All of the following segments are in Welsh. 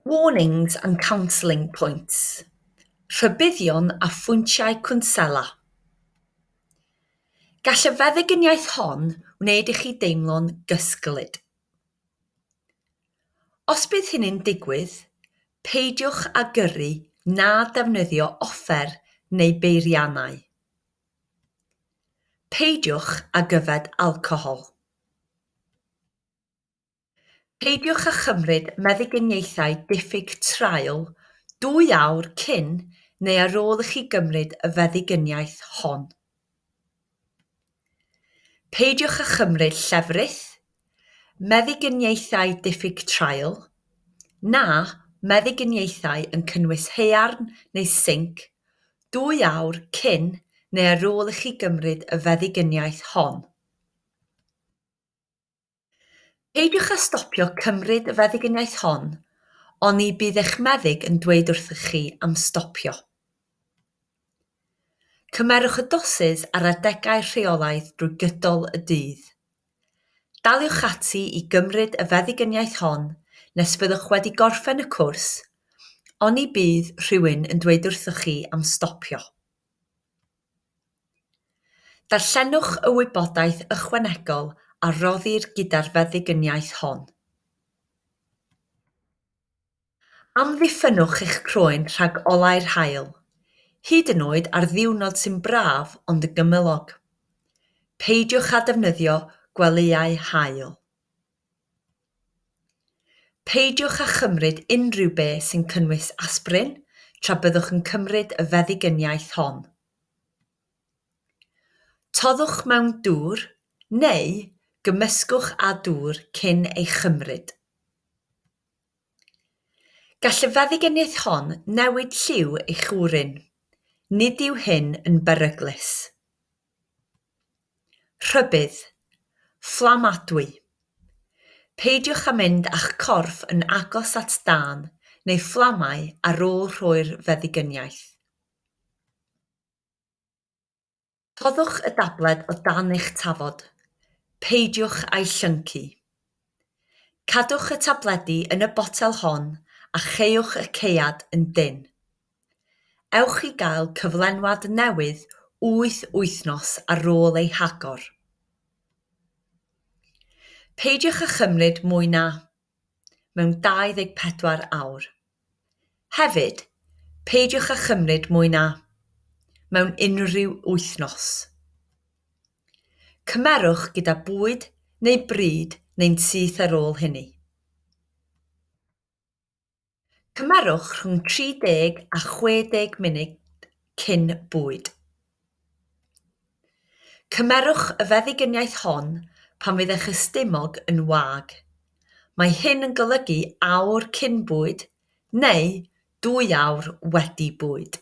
Warnings and counselling points, rhybuddion a phwyntiau cwnsela Gall y feddyginiaeth hon wneud i chi deimlo'n gysglyd. Os bydd hynny'n digwydd, peidiwch â gyrru na defnyddio offer neu beiriannau. Peidiwch ag yfed alcohol. Peidiwch â chymryd meddyginiaethau diffyg traul dwy awr cyn neu ar ôl i chi gymryd y feddyginiaeth hon. Peidiwch â chymryd llefrith, meddyginiaethau diffyg traul, na meddyginiaethau yn cynnwys haearn neu sinc dwy awr cyn neu ar ôl i chi gymryd y feddyginiaeth hon. Peidiwch â stopio cymryd y feddyginiaeth hon, oni bydd eich meddyg yn dweud wrthych chi am stopio. Cymerwch y dosys ar adegau rheolaidd drwy gydol y dydd. Daliwch ati i gymryd y feddyginiaeth hon nes fyddwch wedi gorffen y cwrs, oni bydd rhywun yn dweud wrthych chi am stopio. Darllenwch y wybodaeth ychwanegol a roddir gyda'r feddyginiaeth hon. Amddiffynnwch eich croen rhag olau'r haul, hyd yn oed ar ddiwrnod sy'n braf ond yn gymylog. Peidiwch â defnyddio gwelyau haul. Peidiwch â chymryd unrhyw beth sy'n cynnwys asprin tra byddwch yn cymryd y feddyginiaeth hon. Toddwch mewn dŵr neu gymysgwch â dŵr cyn ei chymryd. Gall y feddyginiaeth hon newid lliw eich wrin. Nid yw hyn yn beryglus. Rhybudd. Fflamadwy. Peidiwch â mynd â'ch corff yn agos at dân neu fflamau ar ôl rhoi'r feddyginiaeth. Rhoddwch y dabled o dan eich tafod. Peidiwch â'i llyncu. Cadwch y tabledi yn y botel hon a cheuwch y caead yn dynn. Ewch i gael cyflenwad newydd wyth wythnos ar ôl ei hagor. Peidiwch â chymryd mwy na mewn 24 awr. Hefyd, peidiwch â chymryd mwy na mewn unrhyw wythnos. Cymerwch gyda bwyd neu bryd neu'n syth ar ôl hynny. Cymerwch rhwng 30 a 60 munud cyn bwyd. Cymerwch y feddyginiaeth hon pan fydd eich ystumog yn wag. Mae hyn yn golygu awr cyn bwyd neu dwy awr wedi bwyd.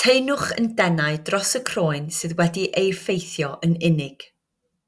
Teimwch yn denau dros y croen sydd wedi ei effeithio yn unig.